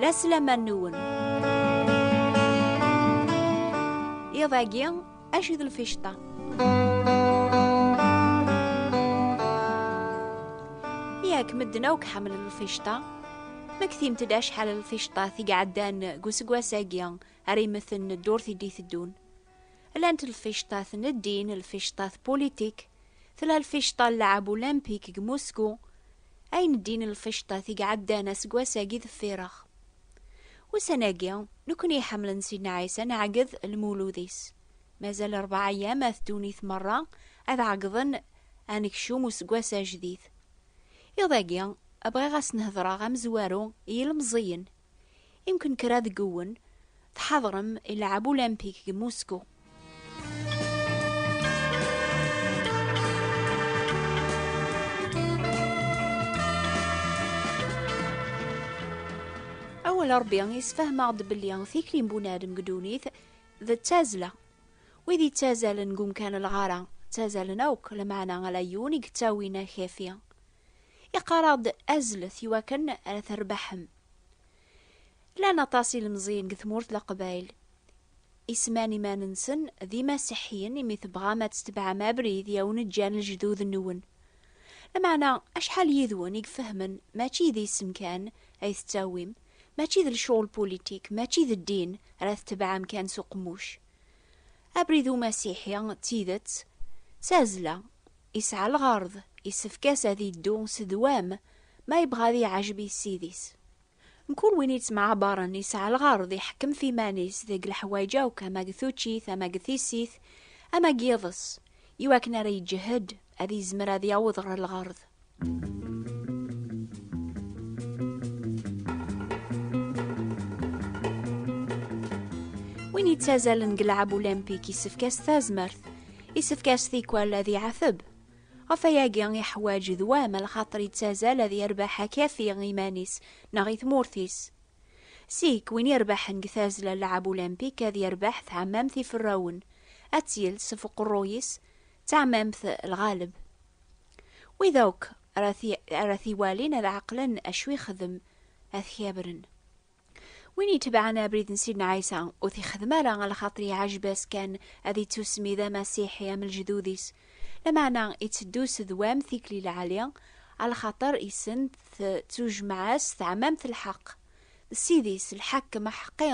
La selaman nwen. Iḍ agi, acu d lficṭa? Yak medden akk ḥemmlen lficṭa. Ma ktimt-d acḥal lficṭat i iɛeddan deg useggas-agi ara imeten ddurt i d-iteddun. Llant lficṭa tneddin, lficṭa tpulitik, tella lficṭa n lɛab ulimpik deg Musku, ayen ddin lficṭat i iɛeddan aseggas-agi deffir-aɣ. Ussan-agi, nekkni iḥemmlen Sidna Ɛisa nɛegged lmulud-is. Mazal rebɛa ayyam at ddunit merra ad ɛeggḍen anekcum useggas ajdid. Iḍ-agi, bɣiɣ ad sen-hedreɣ amezwaru i yilmeẓẓiyen. Imken kra deg-wen tḥadrem i lɛeb ulimpik deg Musku. Awal Ṛebbi yessefhem-aɣ-d belli tikli n bunadem deg ddunit d ttazzla. Wid yettazzalen deg umkan n lɣara, ttazzalen akk, lameɛna ala yiwen i yettawin akefi. Iqarr-aɣ-d azlet iwakken ara terbaḥem. Llan aṭas ilemẓiyen deg tmurt leqbayl isman iman-nsen d imasiḥiyen imi tebɣam ad tetebɛem abrid i awen-ǧǧan lejdud-nwen. Lameɛna acḥal yid-wen i ifehmen mačči d isem kan ay tettawim, mačči d lecɣel pulitik, mačči d ddin ara tetebɛem kan s uqemmuc. Abrid umasiḥi d tidet, d tazzla, Isɛa lɣerḍ, isefk-as ad iddu s ddwam ma yebɣa ad iɛajeb i Ssid-is. Mkul win ittemɛabaren isɛa lɣerḍ iḥekkem f iman-is deg leḥwayeǧ akk ama deg tuččit ama deg tissit ama deg yiḍes, iwakken ara iǧehhed ad izmer ad yaweḍ ɣer lɣerḍ. Win ittazalen deg lɛab ulimpik isefk-as tazmert. Isefk-as tikwal ad iɛateb. Ɣef ayagi iḥwaǧ d wa ma lxaṭer yettazal ad yerbeḥ akafi i iman-is neɣ i tmurt-is. Sik, win irebḥen deg tazzla n lɛab ulimpik ad yerbeḥ tɛemmamt iferrawen, ad tt-yels ɣef uqerruy-is, d tɛemmamt lɣaleb. Wid akk ara t-iwalin ad ɛeqlen acu ixdem, ad t-kabren. win yetebɛen abrid n sidna ɛisa ur t-ixdem ara a lxaṭer iɛajeb-as kan ad ittusmi d amasiḥi am lejdud-is lameɛna iteddu s dwam tikli lɛali a lxaṭer isen tettujmaɛ-as teɛmamt n lḥeqq d ssid-is lḥakem aḥeqqi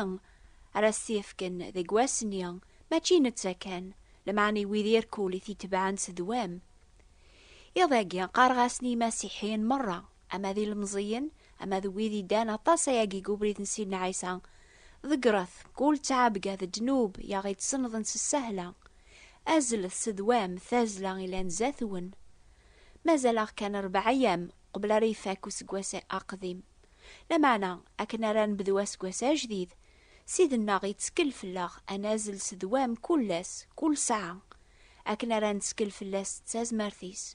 ara as-t-yefken deg wass-nni mačči i netta kan lameɛna i wid irkul i t-itebɛen s dwam iḍ-agi qqareɣ-asen i yimasiḥiyen merra ama d ilemẓiyen, ama d wid iddan aṭas ayagi deg ubrid n Sidna Ɛisa, ḍeggret kul ttɛabga d ddnub i aɣ-ittsenḍen s ssahla, azlet s ddwam tazzla ilan zdat-wen. Mazal-aɣ kan rebɛa ayyam qbel ara ifak useggas aqdim. Lameɛna, akken ara nebdu aseggas ajdid, Ssid-nneɣ ittkel fell-aɣ ad nazzel s ddwam kul ass, kul ssaɛa, akken ara nettkel fell-as d tazmert-is.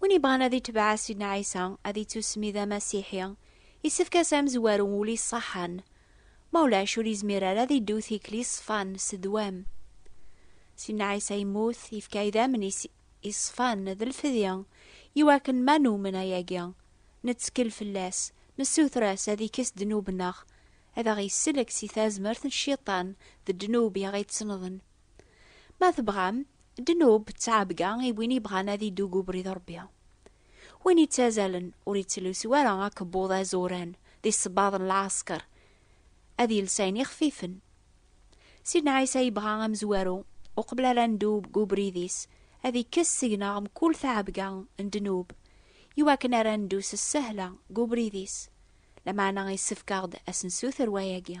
Win yebɣan ad itbeɛ Sidna Ɛisa, ad ittusmi d amasiḥi, isefk-as amezwaru ul iṣaḥan, ma ulac ur izmir ara ad iddu tikli ṣfan s ddwam. Sidna Ɛisa yemmut, yefka idammen-is iṣfan d lfedya, iwakken ma numen ayagi, nettkel fell-as, nessuter-as ad ikkes ddnub-nneɣ, ad aɣ-isellek si tazmert n Cciṭan d ddnub i aɣ-ittennḍen. Ma tebɣam, ddnub d tɛebga i win yebɣan ad iddu deg ubrid n Ṛebbi. Win yettazalen ur yettlusu ara akebbuḍ azuran d isebbaḍ n lɛesker, ad yels ayen ixfifen. Sidna Ɛisa yebɣa amezwaru, uqbel ara neddu deg ubrid-is, ad ikkes seg-neɣ mkul tɛebga n ddnub, iwakken ara neddu s ssehla deg ubrid-is. Lameɛna yessefk-aɣ-d ad s-nsuter wayagi.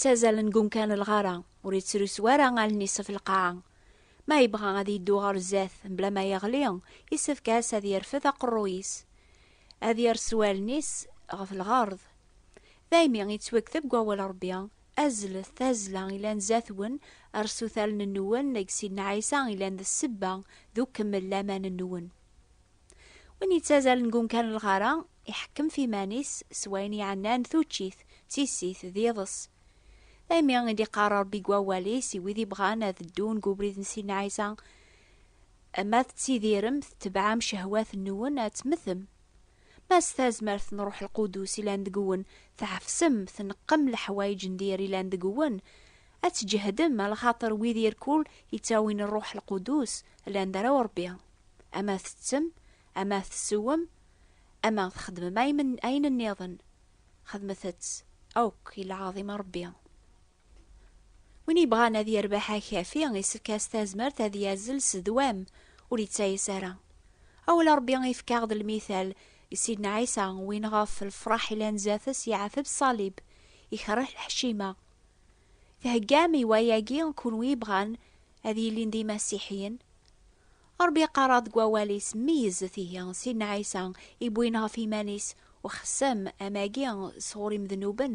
yettazalen deg umkan lɣara ur yettrusu ara allen-is ɣef lqaɛa ma yebɣa ad yeddu ɣer zdat mebla ma yeɣli yessefk-as ad yerfed aqerruy-is ad yersu allen-is ɣef lɣerḍ daymi yettwakteb deg wawal rebbi Azlet tazzla ilan zatwen, rsut allen-nwen deg Sidna Ɛisa ilan d ssebba d ukemmel laman-nwen. Win yettazalen deg umkan n lɣara, iḥekkem f iman-is s wayen iɛennan tuččit, d tissit, d yiḍes. Daymi i d-iqqar Ṛebbi deg Wawal-is i wid ibɣan ad ddun deg ubrid n Sidna Ɛisa, Ma tettidirem, tetebɛem cehwat-nwen, ad tmetem. Ma s tazmert n Ṛuḥ Lqudus ilan deg-wen, tɛefsem, tneqqem leḥwayeǧ n dir ilan deg-wen, ad tǧehdem, a lxaṭer wid irkul ittawin Ṛuḥ Lqudus llan d arraw Ṛebbi. Ama teţţem, ama tsewwem, ama txedmem ayen nniḍen, xedmet-ţ akk i lɛaḍima Ṛebbi. Win yebɣan ad yerbeḥ akafi, isefk-as tazmert ad yazzel s ddwam, ur ittayes ara. Awal n Ṛebbi ifka-ɣ d lmital i Sidna Ɛisa, win ɣef lefṛaḥ ilan zdat-s yeɛteb ṣṣalib, ikerreh lḥecima. Theggam i wayagi kunwi yebɣan ad yilin d imasiḥiyen? Ṛebbi iqqar-aɣ deg wawal-is, Meyyzet ihi Sidna Ɛisa i wwin ɣef yiman-is uxessem amagi sɣur imednuben,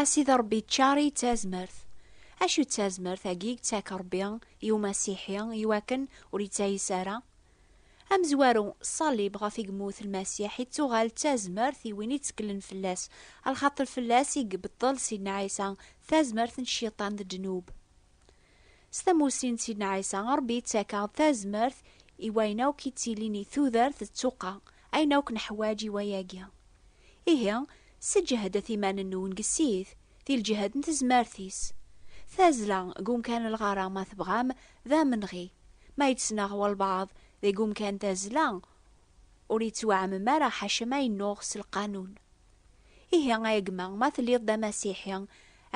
A Sidi Ṛebbi ččar-iyi d tazmert. Acu d tazmert-agi i yettak Ṛebbi i umasiḥi i wakken ur yettayes ara? Amezwaru, ṣṣalib ɣef i yemmut Lmasiḥ i d-tuɣal d tazmert i win itteklen fell-as, a lxaṭer fell-as i ibeṭṭel Sidna Ɛisa tazmert n Cciṭan d ddnub. S tamussni n Sidna Ɛisa, Ṛebbi yettak-aɣ-d tazmert i wayen akk yettilin i tudert d tuqqa, ayen akk neḥwaǧ i wayagi. Ihi, sseǧehdet iman-nwen deg Ssid, di lǧehd n tezmert-is. Tazzla deg umkan n lɣar-a, ma tebɣam, d amenɣi. Ma yettnaɣ walbaɛḍ deg umkan tazzla, ur yettwaɛmem ara ḥaca ma yennuɣ s lqanun. Ihi ay gma, ma telliḍ d amasiḥi,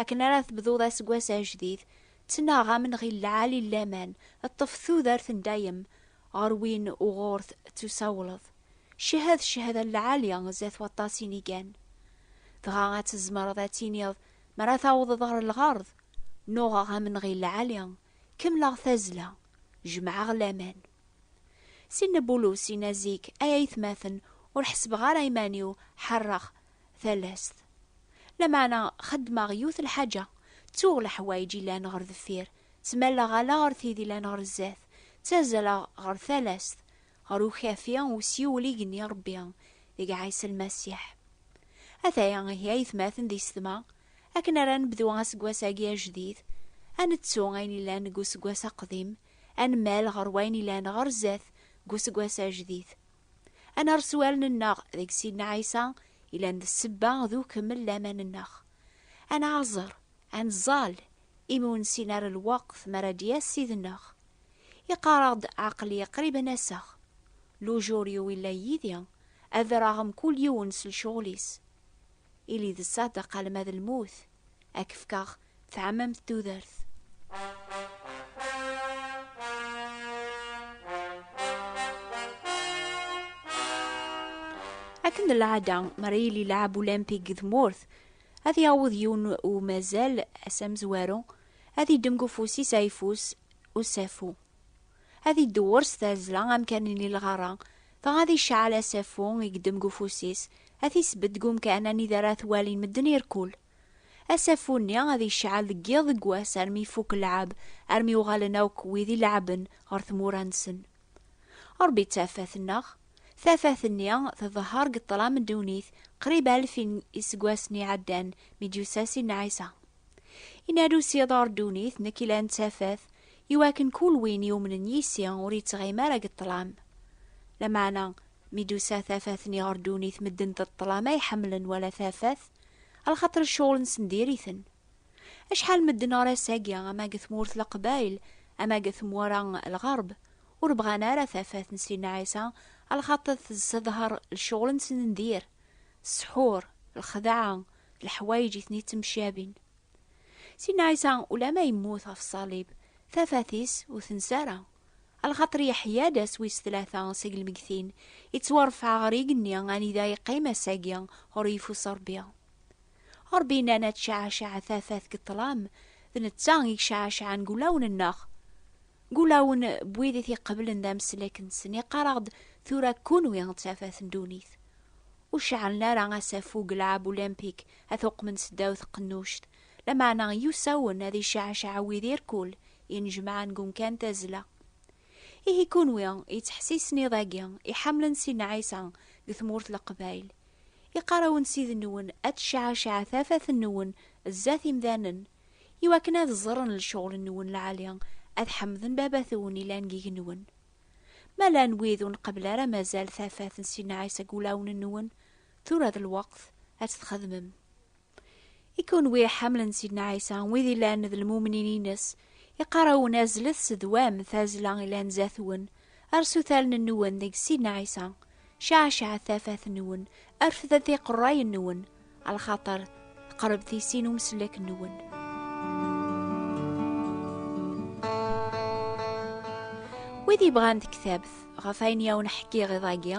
akken ara tebduḍ aseggas ajdid, ttnaɣ amenɣi n lɛali n laman, ṭṭef tudert n dayem, ɣer win uɣur t-tusawleḍ, cehhed ccehada n lɛali zdat waṭas inigan. Dɣa ad tzemreḍ ad tiniḍ, mi ara tawḍeḍ ɣer lɣerḍ, nuɣeɣ amenɣi n lɛali, kemmleɣ tazzla, jemɛeɣ laman. Si Nna Bulus yenna zik, Ay aytmaten, ur ḥessbeɣ ara iman-iw ḥerreɣ talast. Lameɛna xeddmeɣ yiwet lḥaǧa, ttuɣ leḥwayeǧ yellan ɣer deffir, ttmalleɣ ala ɣer tid yellan ɣer zdat, ttazzaleɣ ɣer talast, ɣer ukafi n usyewel i genni Ṛebbi deg Ɛisa Lmasiḥ. Ataya ihi aytmaten di ssetma, akken ara nebdu aseggas-agi ajdid, ad nettu ayen yellan deg useggas aqdim, ad nemmal ɣer wayen ilan ɣer zdat deg useggas ajdid. Ad nerr s wallen-nneɣ deg Sidna Ɛisa ilan d ssebba d ukemmel n laman-nneɣ. Ad nɛaẓer, ad nẓall, imi ur nessin ara lweqt mi ara d-yas Ssid-nneɣ. Iqqar-aɣ-d, Aql-i qrib ad n-aseɣ. Lujur-iw illa yid-i, ad rreɣ mkul yiwen s lecɣal-is. Ili d ṣṣadeq alma d lmut, ad k-fkeɣ tɛamamt tudert. Akken d lɛada, mi ara yili lɛab ulimpik deg tmurt, ad yaweḍ yiwen umazal, ass amezwaru, ad iddem deg ufus-is ayeffus usafu. Ad idewwer s tazzla amkan n lɣerra, dɣa ad iceɛɛel asafu i yeddem deg ufus-is, ad t-isbedd deg umkan anida ara t-walin medden irkul. Asafu-nni ad iceɛɛel deg yiḍ deg wass armi ifuk lleɛɛeb, armi uɣalen akk wid i leɛɛben ɣer tmura-nsen. Ṛebbi d tafat-nneɣ. Tafat-nni tḍehheṛ deg ṭṭlam n ddunit qrib alef n yiseggasen iɛeddan mi d-yusa Sidna Ɛisa. Yenna-d usiḍer ddunit, Nekk yellan d tafat, Iwakken kul win yumnen yis-i ur yettɣim ara deg ṭṭlam. Lameɛna, mi d-tusa tafat-nni ɣer ddunit medden d ṭṭlam ay ḥemmlen wala tafat, alxaṭer cceɣl-nsen diri-ten. Acḥal medden ɣer ass-agi, ama deg tmurt Leqbayel, ama deg tmura Lɣerb, ur bɣan ara tafat n Sidna Ɛisa, alxaṭer tessedher lecɣel-nsen n dir, ssḥur, lxedɛa, leḥwayeǧ i ten-ittemcabin. Sinna Ɛisa ulamma yemmut ɣef ṣṣalib, tafat-is ur tensa ara. Alxaṭer yeḥya-d ass wis tlata seg lmegtin, ittwaṛfeɛ ɣer igenni anida yeqqim ass-agi ɣur yeffus Ṛebbi. Ṛebbi yenna-n ad tceɛɛceɛ tafat deg ṭṭlam, d netta i yeceɛɛceɛen deg wulawen-nneɣ. Deg wulawen n wid i t-iqeblen d ameslek-nsen, iqqar-aɣ-d, Tura kunwi d tafat n ddunit. Ur ceɛɛlen ara asafug Lɛab Olympique ad t-uqmen seddaw tqennuct, lameɛna yusa-wen ad icaɛcaɛ wid irkul inejmaɛen deg umkan tazzla. Ihi kunwi yettḥessisen iḍ-agi iḥamlen Sidna Ɛisa deg tmurt Leqbayel, iqqar-awen Ssid-nwen ad tecɛacaɛ tafat-nwen zdat imdanen, iwakken ad ẓren lecɣel-nwen lɛali, ad ḥemden Baba-twen yellan deg yigenwen. Ma llan wid ur nqebbel ara mazal tafat n Sidna Ɛisa deg wulawen-nwen, Tura d lweqt ad t-txedmem. I kunwi iḥamlen Sidna Ɛisa, wid ilan d lmumnin-ines, iqarawen azlet sedwam tazla ilan zatwen, arsut allen-nwen deg Sidna Ɛisa, ceɛceɛet tafat-nwen, rfdet iqerrayen-nwen, alxaṭer teqreb tisi n umsellek-nwen. Wid yebɣan tektabt ɣef ayen yawen ḥkiɣ iḍ-agi,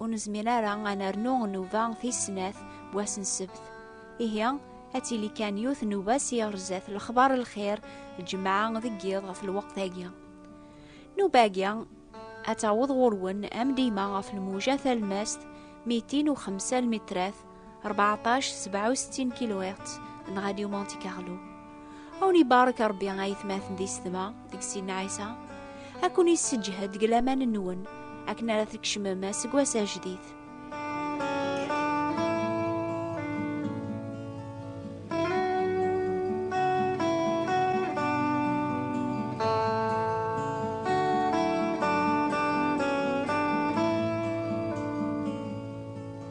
ur nezmir ara ad nernu nnuba tis snat n wass n ssebt. Ihi, ad tili kan yiwet nnuba s yiɣerzat lexbar n lxir lǧemɛa deg yiḍ ɣef lweqt-agi. Nnuba-agi ad taweḍ ɣur-wen am dima ɣef lmuja talmast mitin u xemsa lmitrat 1467 kilohertz n Radio Monte Carlo. Awen ibarek Rebbi ayetmaten di sedma deg sin Ɛisa, ad ken yesseǧhed deg laman-nwen akken ara tkecmem aseggas ajdid.